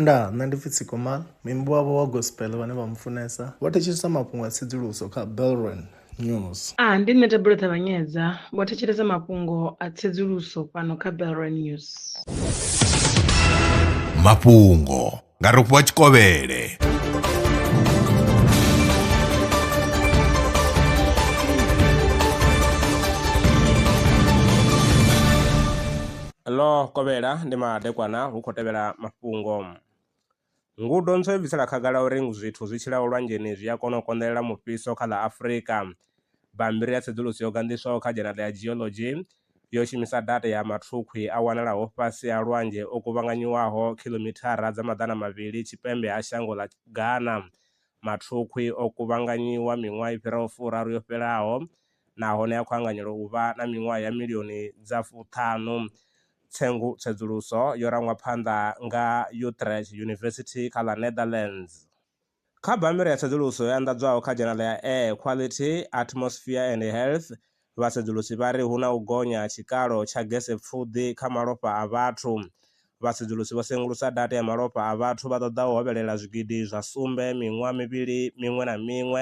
Ndaa, nṋe ndi pfi Tsikomal, muimbi wavho wa gospel vhane vha mu funesa vho thetshelesa mafhungo a tsedzuluso kha Belron News. A, ndi nṋe Thabelo Ṱavhanyedza, vho thetshelesa mafhungo a tsedzuluso fhano kha Belron News. Mafhungo nga Rofhiwa Tshikovhele. Ḽo kovhela ndi madekwana hu khou tevhela mafhungo. Ngudo ntswa yo bvisela khagala uri zwithu zwi tshilaho lwanzheni zwi a kona u konḓelela mufhiso kha ḽa Afrika. Bammbiri ya tsedzuluso yo ganḓiswaho kha dzhenala ya Geology yo shumisa data ya mathukhwi a wanalaho fhasi ha lwanzhe o kuvhanganyiwaho khiḽomithara dza maḓana mavhili tshipembe ha shango ḽa Ghana. Mathukhwi o kuvhanganyiwa miṅwaha i fhiraho furaru yo fhelaho nahone a khou anganyelwa u vha na miṅwaha ya milioni dza fuṱhanu. Tsengu tsedzuluso yo rangwa phanḓa nga Utrecht University kha ḽa Netherlands. Kha bammbiri ya tsedzuluso yo anḓadzwaho kha dzhenala ya Air Quality, Atmosphere and Health, vhasedzulusi vha ri hu na u gonya ha tshikalo tsha gese-pfuḓi kha malofha a vhathu. Vhasedzulusi vho sengulusa data ya malofha a vhathu vha ṱoḓaho u hovhelela zwigidi zwa sumbe miṅwaha mivhili miṅwe na miṅwe,